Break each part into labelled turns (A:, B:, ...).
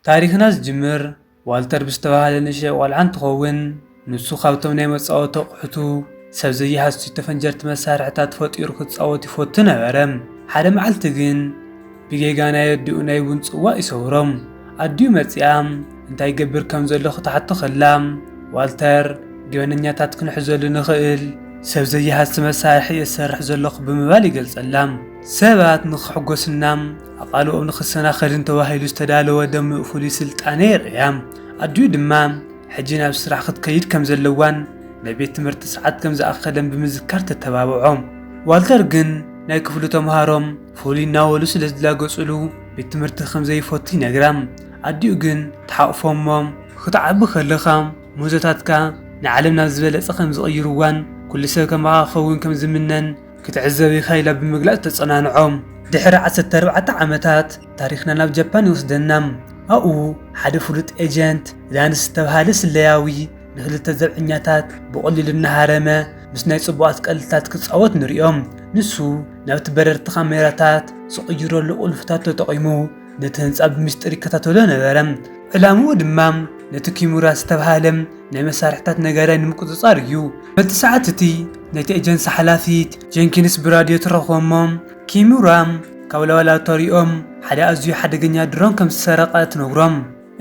A: ታሪኽና ዝጅምር ዋልተር ብዝተባህለ ንእሽተይ ቆልዓ እንትኸውን ንሱ ካብቶም ናይ መፃወቲ ኣቑሑቱ ሰብ ዘይሃስዩ ተፈንጀርቲ መሳርሕታት ፈጢሩ ክፃወት ይፈቱ ነበረ። ሓደ መዓልቲ ግን ብጌጋ ናይ ኣዲኡ ናይ ቡን ፅዋእ ይሰብሮም። ኣዲኡ መፂኣ እንታይ ይገብር ከም ዘሎ ክትሓቶ ከላ ዋልተር ገበነኛታት ክንሕዘሉ ንኽእል ሰብ ዘይሃሲ መሳርሒ እየ ዝሰርሕ ዘለኹ ብምባል ይገልፀላ። ሰባት ንኽሕጎሱና ኣቓልቦኦም ንኽሰናኸልን ተባሂሉ ዝተዳለወ ደሚቕ ፍሉይ ስልጣነ የርእያ። ኣዲኡ ድማ ሕጂ ናብ ስራሕ ክትከይድ ከም ዘለዋን ናይ ቤት ትምህርቲ ሰዓት ከም ዝኣኸለን ብምዝካር ተተባብዖ። ዋልተር ግን ናይ ክፍሉ ተምሃሮ ፍሉይ እናበሉ ስለ ዝላገጹሉ ቤት ትምህርቲ ከም ዘይፈቱ ይነግራ። ኣዲኡ ግን ትሓቝፎ እሞ ክትዓቢ ከለኻ ምህዞታትካ ንዓለም ናብ ዝበለጸ ከም ዝቕይርዋን ኵሉ ሰብ ከማኻ ክኸውን ከም ዝምነን ክትዕዘብ ኢኻ ኢላ ብምግላጽ ተጸናንዖ። ድሕሪ ዓሰርተ ኣርባዕተ ዓመታት ታሪኽና ናብ ጃፓን ይወስደና። ኣብኡ ሓደ ፍሉጥ ኤጀንት፣ ላንስ ዝተብሃለ ስለያዊ፣ ንኽልተ ዘብዐኛታት ብቐሊሉ እናሃረመ ምስ ናይ ጽቡቓት ቀልድታት ክጻወት ንርእዮ። ንሱ ናብቲ በረርቲ ካሜራታት ዝቕይረሉ ቁልፍታት ተጠቒሙ ነቲ ህንጻ ብምስጢር ይከታተሎ ነበረ። ዕላምኡ ድማ ነቲ ኪሙራ ዝተብሃለ ናይ መሳርሕታት ነጋዳይ ንምቁጽጻር እዩ። በቲ ሰዓት እቲ ነቲ ኤጀንሲ ሓላፊት ጀንኪንስ ብራድዮ ትረኽቦ እሞ ኪሙራ ካብ ላቦላቶሪኦም ሓደ ኣዝዩ ሓደገኛ ድሮን ከም ዝሰረቐ ትነግሮም።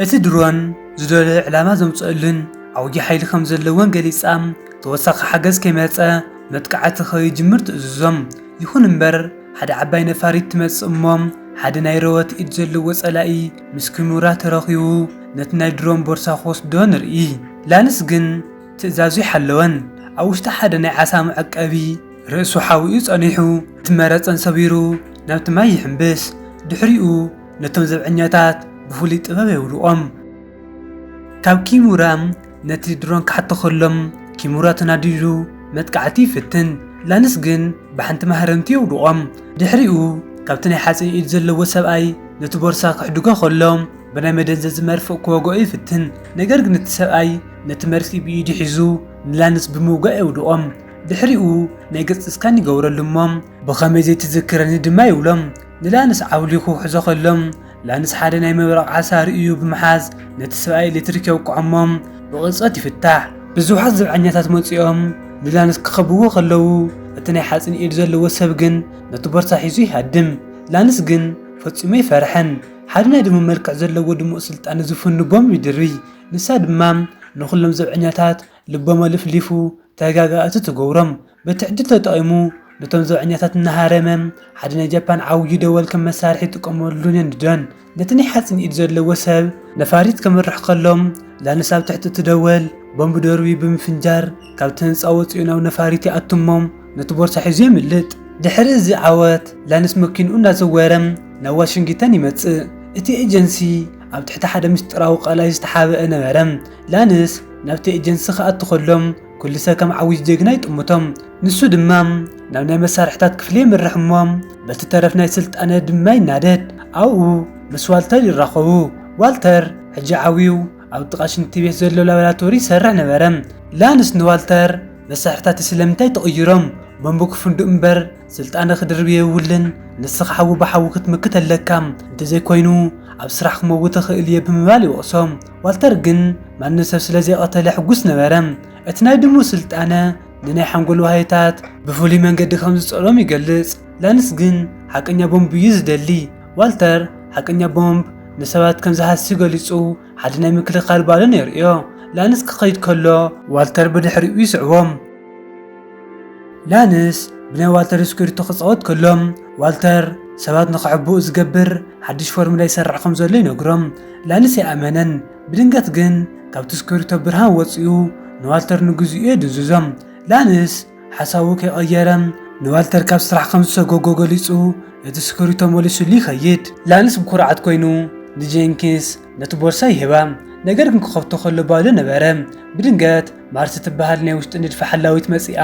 A: እቲ ድሮን ዝደለዮ ዕላማ ዘምጽእሉን ዓውዪ ሓይሊ ከም ዘለዎን ገሊጻ ተወሳኺ ሓገዝ ከይመጸ መጥቃዕቲ ከይጅምር ትእዝዞም። ይኹን እምበር ሓደ ዓባይ ነፋሪት ትመጽእ እሞ ሓደ ናይ ረወት ኢድ ዘለዎ ጸላኢ ምስ ክኑራ ተረኺቡ ነቲ ናይ ድሮን ቦርሳ ክወስዶ ንርኢ። ላንስ ግን ትእዛዙ ኣይሓለወን። ኣብ ውሽጢ ሓደ ናይ ዓሳ መዐቀቢ ርእሱ ሓዊኡ ጸኒሑ እቲ መረጸን ሰቢሩ ናብቲ ማይ ይሕምብስ። ድሕሪኡ ነቶም ዘብዐኛታት ብፍሉይ ጥበብ የውድቖም። ካብ ኪኑራ ነቲ ድሮን ክሓቶ ከሎም ኪሙራ ተናዲዱ መጥቃዕቲ ይፍትን፣ ላንስ ግን ብሓንቲ ማህረምቲ የውድቖም። ድሕሪኡ ካብቲ ናይ ሓጺን ኢድ ዘለዎ ሰብኣይ ነቲ ቦርሳ ክሕድጎ ከሎ ብናይ መደንዘዚ መርፍእ ክወግኦ ይፍትን፣ ነገር ግን እቲ ሰብኣይ ነቲ መርፍእ ብኢዱ ሒዙ ንላንስ ብምውጋእ የውድቖም። ድሕሪኡ ናይ ገጽ ስካን ይገብረሉ እሞ ብኸመይ ዘይትዝክረኒ ድማ ይብሎ። ንላንስ ዓውሊኹ ሕዞ ከሎ ላንስ ሓደ ናይ ምብራቕ ዓሳ ርእዩ ብምሓዝ ነቲ ሰብኣይ ኤሌክትሪክ የውቅዖሞ ብቕርጸት ይፍታሕ። ብዙሓት ዘብዐኛታት መጺኦም ንላንስ ክኸብዎ ከለዉ እቲ ናይ ሓጺን ኢድ ዘለዎ ሰብ ግን ነቲ ቦርሳ ሒዙ ይሃድም። ላንስ ግን ፈጺሙ ኣይፈርሐን። ሓደ ናይ ድሙ መልክዕ ዘለዎ ድሙቕ ስልጣን ዝፉን ንቦም ይድሪ። ንሳ ድማ ንኹሎም ዘብዐኛታት ልቦም ኣልፍሊፉ ተጋጋእቲ ትገብሮም። በቲ ዕድል ተጠቒሙ ነቶም ዘብዐኛታት እናሃረመ፣ ሓደ ናይ ጃፓን ዓውዩ ደወል ከም መሳርሒ ይጥቀመሉን የንድዶን። ነቲ ናይ ሓጺን ኢድ ዘለዎ ሰብ፣ ነፋሪት ከምርሕ ከሎ፣ ላንስ ኣብ ትሕቲ እቲ ደወል ቦምብ ደርብዩ ብምፍንጃር ካብቲ ህንጻ ወጺኡ ናብ ነፋሪት ይኣቱ እሞ ነቲ ቦርሳ ሒዙ የምልጥ። ድሕሪ እዚ ዓወት፣ ላንስ መኪንኡ እናዘወረ ናብ ዋሽንግተን ይመጽእ። እቲ ኤጀንሲ ኣብ ትሕቲ ሓደ ምስጢራዊ ቀላይ ዝተሓብአ ነበረ። ላንስ ናብቲ ኤጀንሲ ክኣቱ ከሎ፣ ኩሉ ሰብ ከም ዓዊጅ ጀግና ይጥምቶም። ንሱ ድማ ናብ ናይ መሳርሕታት ክፍሊ የምርሕ እሞ በቲ ተረፍ ናይ ስልጣነ ድማ ይናደድ። ኣብኡ ምስ ዋልተር ይራኸቡ። ዋልተር ሕጂ ዓብዩ ኣብ ጥቓ ሽንቲ ቤት ዘሎ ላቦራቶሪ ይሰርሕ ነበረ። ላንስ ንዋልተር መሳርሕታትይ ስለምንታይ ተቕይሮም? ቦምብ ክፍንድኡ እምበር ስልጣነ ክድርቢ የብሉን። ንስኻ ሓዊ ብሓዊ ክትምክት ኣለካ። እንተዘይኮይኑ ኣብ ስራሕ ክመውት እኽእል እየ ብምባል ይወቕሶ። ዋልተር ግን ማንም ሰብ ስለ ዘይቐተለ ሕጉስ ነበረ። እቲ ናይ ድሙ ስልጣነ ንናይ ሓንጎል ዋህዮታት ብፍሉይ መንገዲ ከም ዝጸሎም ይገልጽ። ላንስ ግን ሓቀኛ ቦምብ እዩ ዝደሊ። ዋልተር ሓቀኛ ቦምብ ንሰባት ከም ዝሃሲ ገሊጹ ሓደ ናይ ምክልኻል ባሎን የርእዮ። ላንስ ክኸይድ ከሎ ዋልተር ብድሕሪኡ ይስዕቦ። ላንስ ብናይ ዋልተር ስኩርቶ ክጻወት ከሎ፣ ዋልተር ሰባት ንኽሕብኡ ዝገብር ሓድሽ ፎርሙላ ይሰርሕ ከም ዘሎ ይነግሮም። ላንስ ኣይኣመነን። ብድንገት ግን ካብቲ ስኩርቶ ብርሃን ወጺኡ ንዋልተር ንግዜኡ የድንዝዞ። ላንስ ሓሳቡ ከይቐየረ ንዋልተር ካብ ስራሕ ከም ዝሰጎጎ ገሊጹ ነቲ ስኩርቶ መሊሱሉ ይኸይድ። ላንስ ብኩርዓት ኮይኑ ንጀንኪንስ ነቲ ቦርሳ ይህባ፣ ነገር ግን ክኸፍቶ ከሎ ባዶ ነበረ። ብድንገት ማርስ ትበሃል ናይ ውሽጢ ንድፊ ሓላዊት መጺኣ፣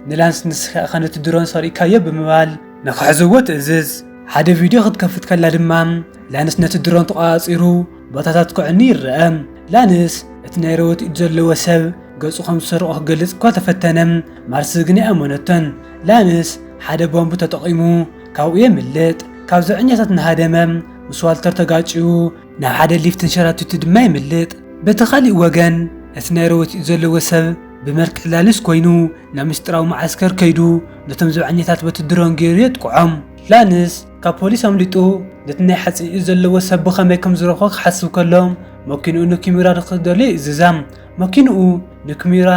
A: ንላንስ ንስኺ ኢኻ ነቲ ድሮን ሰሪቕካዮ ብምባል ንኽሕዝዎ ትእዝዝ። ሓደ ቪድዮ ክትከፍት ከላ ድማ ላንስ ነቲ ድሮን ተቖጻጺሩ ቦታታት ከዕኑ ይረኣ። ላንስ እቲ ናይ ሮቦት ኢድ ዘለዎ ሰብ ገጹ ከም ዝሰረቖ ክገልጽ እኳ ተፈተነ፣ ማርስ ግን ኣይኣመነቶን። ላንስ ሓደ ቦምብ ተጠቒሙ ካብኡ የምልጥ። ካብ ዘብዐኛታት እናሃደመ ምስ ዋልተር ተጋጭዩ ናብ ሓደ ሊፍት ተንሸራቲቱ ድማ የምልጥ። በቲ ኻሊእ ወገን እቲ ናይ ረወቲኡ ዘለዎ ሰብ ብመልክዕ ላልስ ኮይኑ ናብ ምስጢራዊ መዓስከር ከይዱ ነቶም ዘብዐኛታት በቲ ድሮን ገይሩ የጥቅዖም። ላንስ ካብ ፖሊስ ኣምሊጡ ነቲ ናይ ሓጺን'ዩ ዘለዎ ሰብ ብኸመይ ከም ዝረኽቦ ክሓስብ ከሎ መኪንኡ ንኪምራድ ክደልዮ ይእዝዛ። መኪንኡ ንክሚራ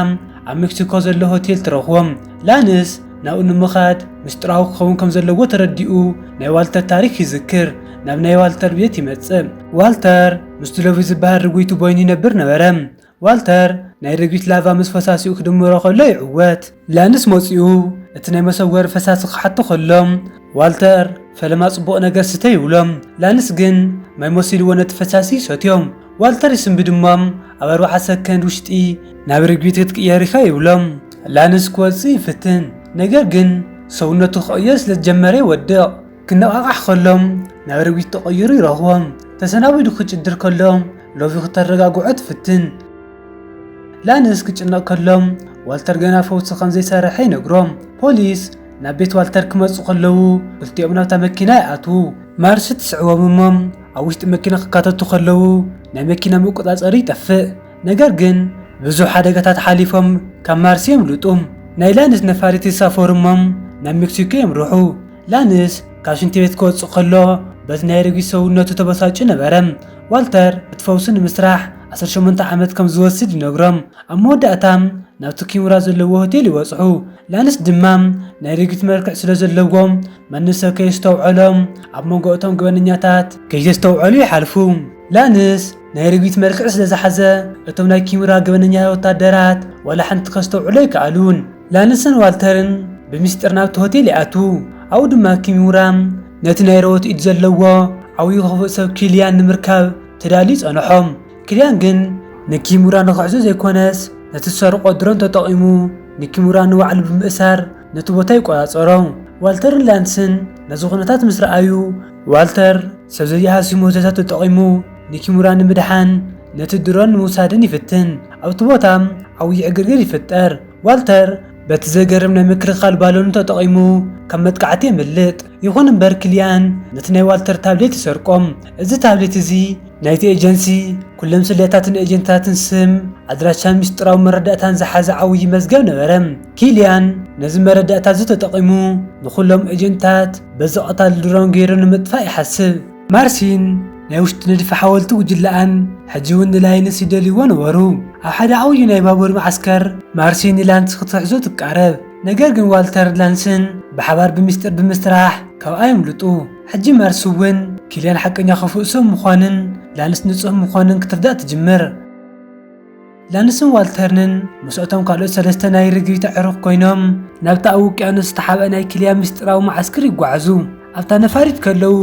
A: ኣብ ሜክሲኮ ዘሎ ሆቴል ትረኽቦ። ላንስ ናብኡ ንምኻድ ምስጢራዊ ክኸውን ከም ዘለዎ ተረዲኡ ናይ ዋልተር ታሪክ ይዝክር። ናብ ናይ ዋልተር ቤት ይመጽእ። ዋልተር ምስቲ ሎቪ ዝበሃል ርጉይቲ ቦይኑ ይነብር ነበረ። ዋልተር ናይ ርግቢት ላቫ ምስ ፈሳሲኡ ክድምሮ ከሎ ይዕወት። ላንስ መጺኡ እቲ ናይ መሰወሪ ፈሳሲ ክሓቶ ከሎ ዋልተር ፈለማ ጽቡቕ ነገር ስተ ይብሎ። ላንስ ግን ማይ መሲልዎ ነቲ ፈሳሲ ይሰትዮ። ዋልተር ይስምቢ ድማ ኣብ ኣርባዓ ሰከንድ ውሽጢ ናብ ርግቢት ክትቅየር ኢኻ ይብሎም። ላንስ ክወጽእ ይፍትን ነገር ግን ሰውነቱ ክቕየር ስለ ዝጀመረ ይወድቕ። ክነቓቓሕ ከሎ ናብ ርግቢት ተቐይሩ ይረኽቦ። ተሰናቢዱ ክጭድር ከሎ ሎቪ ክተረጋግዖ ትፍትን። ላንስ ክጭነቕ ከሎ ዋልተር ገና ፈውሲ ከም ዘይሰረሐ ይነግሮ። ፖሊስ ናብ ቤት ዋልተር ክመጹ ከለዉ ክልቲኦም ናብታ መኪና ይኣትዉ። ማርሲ ትስዕቦም እሞ ኣብ ውሽጢ መኪና ክካተቱ ከለዉ ናይ መኪና መቆፃፀሪ ይጠፍእ። ነገር ግን ብዙሕ ሓደጋታት ሓሊፎም ካብ ማርሲ የምልጡ። ናይ ላንስ ነፋሪት ይሳፈሩ እሞም ናብ ሜክሲኮ የምርሑ። ላንስ ካብ ሽንቲ ቤት ክወፅእ ከሎ በቲ ናይ ረጊት ሰውነቱ ተበሳጭዩ ነበረ። ዋልተር እቲ ፈውሲ ንምስራሕ ዓሰርተ ሸሞንተ ዓመት ከም ዝወስድ ይነግሮም። ኣብ መወዳእታ ናብቲ ኪሙራ ዘለዎ ሆቴል ይበፅሑ። ላንስ ድማ ናይ ረጊት መልክዕ ስለ ዘለዎ መንሰ ከይስተውዐሎም ኣብ መንጎ እቶም ገበነኛታት ከይዘስተውዐሉ ይሓልፉ። ላንስ ናይ ርግቢት መልክዕ ስለ ዝሓዘ እቶም ናይ ኪምራ ገበነኛታት ወታደራት ዋላ ሓንቲ ከስተውዕሉ ኣይከኣሉን። ላንስን ዋልተርን ብሚስጢር ናብቲ ሆቴል ይኣትዉ፣ ኣብኡ ድማ ኪምራ ነቲ ናይ ሮቦት ኢድ ዘለዎ ዓብዩ ክፉእ ሰብ ኪልያን ንምርካብ ተዳልዩ ጸንሖ። ኪልያን ግን ንኪምራ ንኽሕዞ ዘይኮነስ ነቲ ዝሰርቖ ድሮን ተጠቒሙ ንኪምራ ንባዕሉ ብምእሳር ነቲ ቦታ ይቈጻጸሮ። ዋልተርን ላንስን ነዚ ዅነታት ምስ ረኣዩ፣ ዋልተር ሰብ ዘይሃስዩ ምህዞታት ተጠቒሙ ንኪሙራ ንምድሓን ነቲ ድሮን ንምውሳድን ይፍትን። ኣብቲ ቦታ ዓብዪ ዕግርግር ይፍጠር። ዋልተር በቲ ዘገርም ናይ ምክልኻል ባሎኑ ተጠቒሙ ካብ መጥቃዕቲ የምልጥ። ይኹን እምበር ክሊያን ነቲ ናይ ዋልተር ታብሌት ይሰርቆ። እዚ ታብሌት እዚ ናይቲ ኤጀንሲ ኩሎም ስለያታትን ኤጀንትታትን ስም፣ ኣድራሻን ምስጢራዊ መረዳእታን ዝሓዘ ዓውዪ መዝገብ ነበረ። ኪሊያን ነዚ መረዳእታ እዚ ተጠቒሙ ንኹሎም ኤጀንትታት በዚ ቀታሊ ድሮን ገይሩ ንምጥፋእ ይሓስብ። ማርሲን ናይ ውሽጢ ንድፊ ሓወልቲ ጉጅለኣን ሕጂ እውን ንላይንስ ይደልይዎ ነበሩ። ኣብ ሓደ ዓውዪ ናይ ባቡር መዓስከር ማርሲን ንላንስ ክትሕዞ ትቃረብ። ነገር ግን ዋልተር ላንስን ብሓባር ብሚስጢር ብምስራሕ ካብኣ የምልጡ። ሕጂ ማርሲ እውን ኪልያን ሓቀኛ ክፉእ ሰብ ምዃኑን ላንስ ንጹህ ምዃኑን ክትርዳእ ትጅምር። ላንስን ዋልተርንን ምስ'ቶም ካልኦት ሰለስተ ናይ ርግቢት ኣዕሩኽ ኮይኖም ናብቲ ኣብ ውቅያኖስ ዝተሓብኣ ናይ ኪልያን ምስጢራዊ መዓስክር ይጓዓዙ። ኣብታ ነፋሪት ከለዉ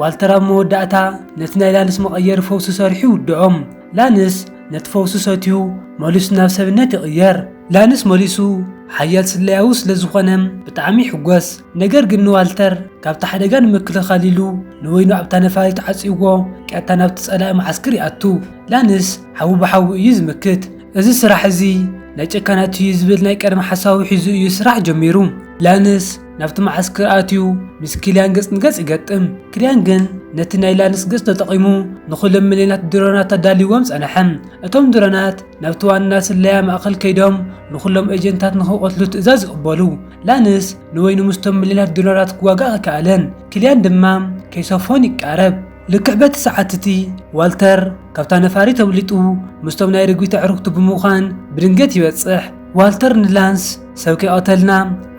A: ዋልተር ኣብ መወዳእታ ነቲ ናይ ላንስ መቐየሪ ፈውሲ ሰሪሑ ይውድኦም። ላንስ ነቲ ፈውሲ ሰትዩ መሊሱ ናብ ሰብነት ይቕየር። ላንስ መሊሱ ሓያል ስለያዊ ስለ ዝዀነ ብጣዕሚ ይሕጐስ። ነገር ግን ንዋልተር ካብቲ ሓደጋ ንምክልኻል ኢሉ ንወይኑ ኣብታ ነፋሪት ዓጽይዎ ቀጥታ ናብቲ ጸላኢ መዓስክር ይኣቱ። ላንስ ሓዊ ብሓዊ እዩ ዝምክት። እዚ ስራሕ እዚ ናይ ጨካናት እዩ ዝብል ናይ ቀደም ሓሳቡ ሒዙ እዩ ስራሕ ጀሚሩ። ላንስ ናብቲ መዓስከር ኣትዩ ምስ ኪልያን ገጽ ንገጽ ይገጥም። ኪልያን ግን ነቲ ናይ ላንስ ገጽ ተጠቒሙ ንዅሎም ሚልዮናት ድሮናት ኣዳልይዎም ጸንሐ። እቶም ድሮናት ናብቲ ዋና ስለያ ማእከል ከይዶም ንዅሎም ኤጀንታት ንኽቐትሉ ትእዛዝ ይቕበሉ። ላንስ ንበይኑ ምስቶም ሚልዮናት ድሮናት ክዋጋእ ኣይከኣለን፣ ኪልያን ድማ ከይሰፎን ይቃረብ። ልክዕ በቲ ሰዓት እቲ፣ ዋልተር ካብታ ነፋሪት ኣምሊጡ ምስቶም ናይ ርግቢት ኣዕሩኽቱ ብምዃን ብድንገት ይበጽሕ። ዋልተር ንላንስ ሰብ ከይቐተልና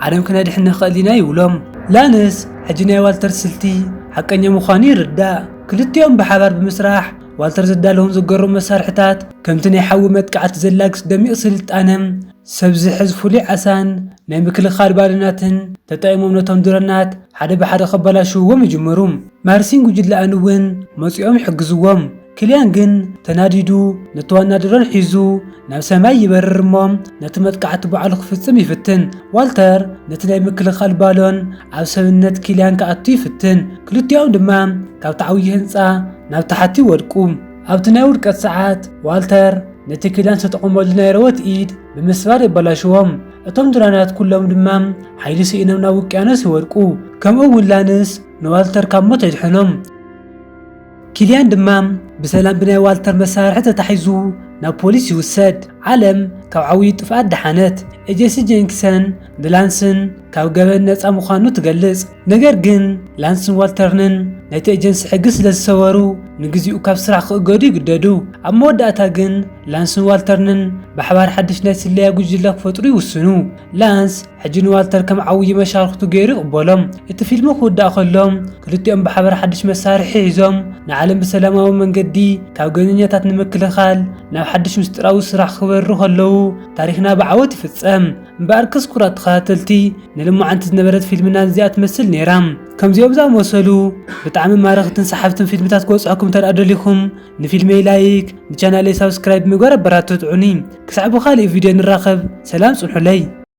A: ዓለም ክነድሕን ንኽእል ኢና ይብሎም። ላንስ ሕጂ ናይ ዋልተር ስልቲ ሓቀኛ ምዃኑ ይርዳእ። ክልቲኦም ብሓባር ብምስራሕ ዋልተር ዘዳለዎም ዘገርሙ መሳርሒታት ከምቲ ናይ ሓዊ መጥቃዕቲ ዘላግስ ደሚቕ ስልጣነ ሰብ ዝሕዝ ፍሉይ ዓሳን ናይ ምክልኻል ባሎናትን ተጠቒሞም ነቶም ድሮናት ሓደ ብሓደ ከበላሽውዎም ይጅምሩ። ማርሲን ጉጅለኣን እውን መጺኦም ይሕግዝዎም። ክልያን ግን ተናዲዱ ነቲ ዋና ድሮን ሒዙ ናብ ሰማይ ይበርር እሞ ነቲ መጥቃዕቲ ባዕሉ ክፍጽም ይፍትን። ዋልተር ነቲ ናይ ምክልኻል ባሎን ኣብ ሰብነት ክልያን ክኣቱ ይፍትን፣ ክልቲኦም ድማ ካብቲ ዓብዪ ህንጻ ናብ ታሕቲ ይወድቁ። ኣብቲ ናይ ውድቀት ሰዓት ዋልተር ነቲ ክልያን ዝተጠቐመሉ ናይ ረወት ኢድ ብምስባር የበላሽዎ፣ እቶም ድሮናት ኩሎም ድማ ሓይሊ ስኢኖም ናብ ውቅያኖስ ይወድቁ። ከምኡ እውን ላንስ ንዋልተር ካብ ሞት የድሕኖ። ኪልያን ድማ ብሰላም ብናይ ዋልተር መሳርሒ ተታሒዙ ናብ ፖሊስ ይውሰድ። ዓለም ካብ ዓውዩ ጥፍኣት ደሓነት። ኤጀሲ ጀንኪሰን ንላንስን ካብ ገበን ነጻ ምዃኑ ትገልጽ። ነገር ግን ላንስን ዋልተርንን ነቲ ኤጀንሲ ሕጊ ስለ ዝሰበሩ ንግዚኡ ካብ ስራሕ ክእገዱ ይግደዱ። ኣብ መወዳእታ ግን ላንስን ዋልተርንን ብሓባር ሓድሽ ናይ ስለያ ጉጅለ ክፈጥሩ ይውስኑ። ላንስ ሕጂ ንዋልተር ከም ዓውዪ መሻርኽቱ ገይሩ ይቕበሎም። እቲ ፊልም ክውዳእ ከሎ፣ ክልቲኦም ብሓባር ሓድሽ መሳርሒ ሒዞም፣ ንዓለም ብሰላማዊ መንገዲ ካብ ገበነኛታት ንምክልኻል ናብ ሓድሽ ምስጢራዊ ስራሕ ክበርሩ ከለዉ ታሪኽና ብዓወት ይፍጸም። እምበኣርከስ ክቡራት ተኸታተልቲ፣ ንልሞዓንቲ ዝነበረት ፊልምና ነዚኣ ትመስል ነይራ። ከምዚኦም ዝኣመሰሉ ብጣዕሚ ማረኽትን ሰሓብትን ፊልምታት ክበጽሑኩም እንተድኣ ደሊኹም፣ ንፊልመይ ላይክ፣ ንቻናለይ ሳብስክራይብ ብምግባር ኣበራትትዑኒ። ክሳዕ ብኻልእ ቪድዮ ንራኸብ፣ ሰላም ጽንሑለይ።